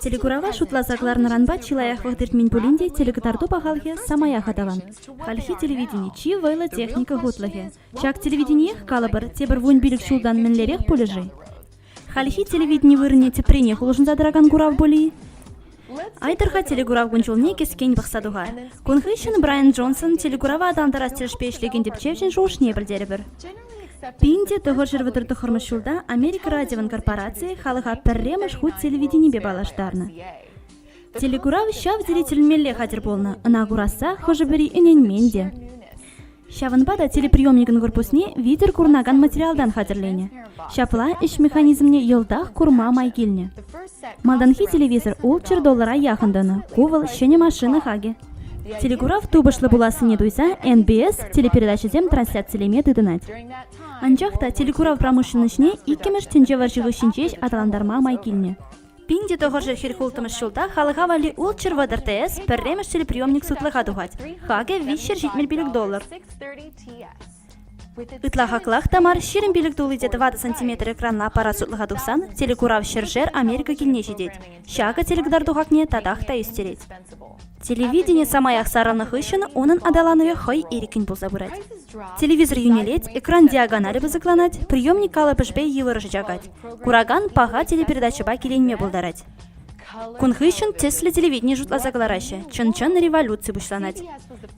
Телекурава шутласа кӑларнӑранпа чи лайӑх вӑхӑт иртмен пулин те телекӑтарту пахалӑхӗ самаях аталан. Хальхи телевидени чи вӑйлӑ техника хутлӑхӗ. Ҫак телевидениех, калӑпӑр, тепӗр вунпилӗк ҫултан мӗнлерех пулӗ-ши? Хальхи телевидени вырӑнне тӗпренех улшӑнса тӑракан курав пулӗ-и? Айтӑр-ха телекурав кун-ҫулне кӗскен пӑхса туха. Кун хыҫҫӑн Брайан Джонсон телекурава аталантарас тӗлӗшпе ӗҫлекен тӗпчевҫӗн шухӑшне пӗлтерӗпӗр. Пин те тӑхӑрҫӗр вӑтӑр тӑххӑрмӗш ҫулта Америка радиовӑн корпорацийӗ халӑха пӗрремӗш хут телевиденипе паллаштарнӑ. Телекурав ҫав тери тӗлӗнмелле хатӗр пулнӑ, ӑна курасса хӑшӗ-пӗри ӗненмен те. Ҫавӑнпа та телеприемникӑн корпусне витӗр курӑнакан материалтан хатӗрленӗ. Ҫапла ӗҫ механизмне йӑлтах курма май килнӗ. Малтанхи телевизор ултҫӗр доллара яхӑн тӑнӑ. Ку вӑл ҫӗнӗ машина хакӗ. Телекурав тупӑшлӑ пулассине туйса НБС телепередачӑсем трансляцилеме тытӑнать. Анчах та телекурав промышленноҫне иккӗмӗш тӗнче вӑрҫи хыҫҫӑн ҫеҫ аталантарма май килнӗ. Пин те тӑхӑршӗ хӗл-хултӑмӗш ҫулта халӑха валли Ultra Weather TS пӗрремӗш телеприемник сутлӑха тухать. Хакӗ виҫҫӗр ҫитмӗл пилӗк доллар. Ытла хаклах та мар ҫирӗм пилӗк тулли те тӑватӑ сантиметр экранла аппарат сутлӑха тухсан телекурав ҫӗршер Америка килне ҫитет. Ҫакӑ телекӑтарту хакне татах та ӳстерет. Телевидени самаях сарӑлнӑ хыҫҫӑн унӑн аталанӑвӗ хӑй ирӗккӗн пулса пырать. Телевизор йӳнелет, экран диагоналӗ пысӑкланать, приемник калӑпӑшпе йывӑрӑшӗ чакать. Куракан паха телепередачӑпа киленме пултарать. Кун хыҫҫӑн тӗслӗ телевидени шутласа кӑлараҫҫӗ. Чӑн-чӑн революци пуҫланать.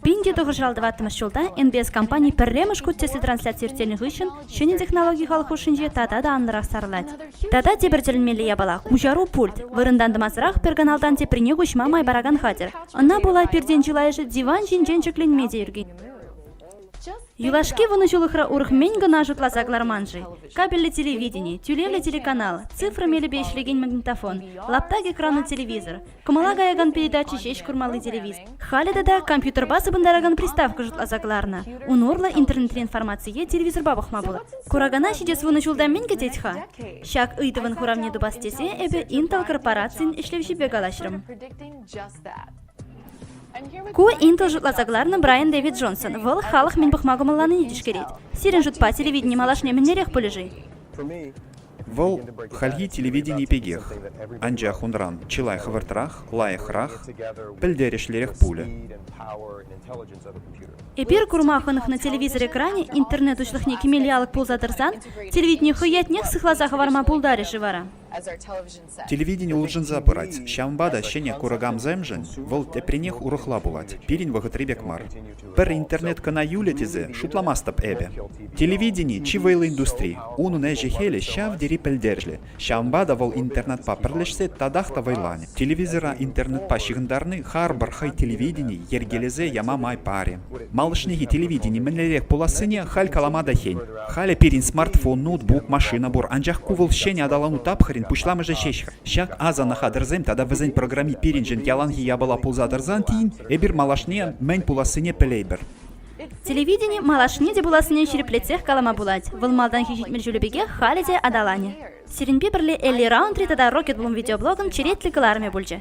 Пин те тухӑҫлӑ тӑваттӑмӗш ҫулта НБС компани пӗрремӗш хут тӗслӗ трансляци ирттернӗ хыҫҫӑн Ҫӗнӗ технологи халӑх хушшинче тата та анлӑрах сарӑлать. Тата тепӗр тӗлӗнмелле япала – куҫару пульт. Вырӑнтан тӑмасӑрах пӗр каналтан теприне куҫма май паракан хатӗр. Ӑна пула пиртен чылайӑшӗ диван ҫинчен ҫӗкленме те ӳркен. Юлашки вунӑҫулӑхра урӑх-мӗн кӑна шутласа кӑларман-ши? Кабельлӗ телевидени, тӳлевлӗ телеканал, цифра мелӗпе ӗҫлекен магнитофон, лаптак экрану телевизор, Кӑмӑла каякан передача ҫеҫ курмалли телевиз. Халӗ тата компьютерпа сыпӑнтаракан приставка шутласа кӑларнӑ. Ун урлӑ интернетри информацие телевизорпа пӑхма пулать. Куракана ҫитес вунӑ ҫулта мӗн кӗтет-ха? Ҫак ыйтӑвӑн хуравне тупас тесе эпӗ Intel корпорацийӗн ӗҫлевҫипе калаҫрӑм. Ку Intel шутласа кӑларнӑ Брайан Дэвид Джонсон. Вӑл халӑх мӗн пӑхма кӑмӑлланине тишкерет. Сирӗн шутпа телевидени малашне мӗнлерех пулӗ-ши? Вӑл хальхи телевидени пекех, анчах унран чылай хӑвӑртрах, лайӑхрах, пӗлтерӗшлӗрех пулӗ. Эпир курма хӑнӑхнӑ телевизор экранӗ интернет уҫлӑхне кӗмелли алӑк пулса тӑрсан телевидени хӑй ятнех сыхласа хӑварма пултарӗ-ши вара? Телевидени улшӑнса пырать, ҫавӑнпа та ҫӗнӗ куракансемшӗн вӑл тепринех урӑхла пулать, пирӗн вӑхӑтри пек мар. Пӗр интернет кӑна юлӗ тесе шутламастӑп эпӗ. Телевидени, чи вӑйлӑ индустри, унӑн ӗҫӗ-хӗлӗ ҫав тери пӗлтерӗшлӗ, ҫавӑнпа та вӑл интернетпа пӗрлешсе татах та вӑйланӗ. Телевизора интернетпа ҫыхӑнтарни харпӑр хӑй телевидени йӗркелесе яма май парӗ. Малашнехи телевидени мӗнлерех пулассине халь калама та хӗн. Халӗ пирӗн смартфон, ноутбук, машина пур, анчах ку вӑл ҫӗнӗ аталану тапхӑрӗн пуҫламӑшӗ ҫеҫ-ха. Ҫак асӑннӑ хатӗрсем тата вӗсен программи пирӗншӗн яланхи япала пулса тӑрсан тин эпир малашне мӗн пулассине пӗлейпӗр. Телевидени малашне те пулассине ҫирӗплетсех калама пулать. Вӑл малтанхи ҫитмӗл ҫулӗ пекех халӗ те аталанӗ. Сирӗнпе пӗрле Элли Раундри тата Rocket Bloom видеоблогӑн черетлӗ кӑларӑмӗ пулчӗ.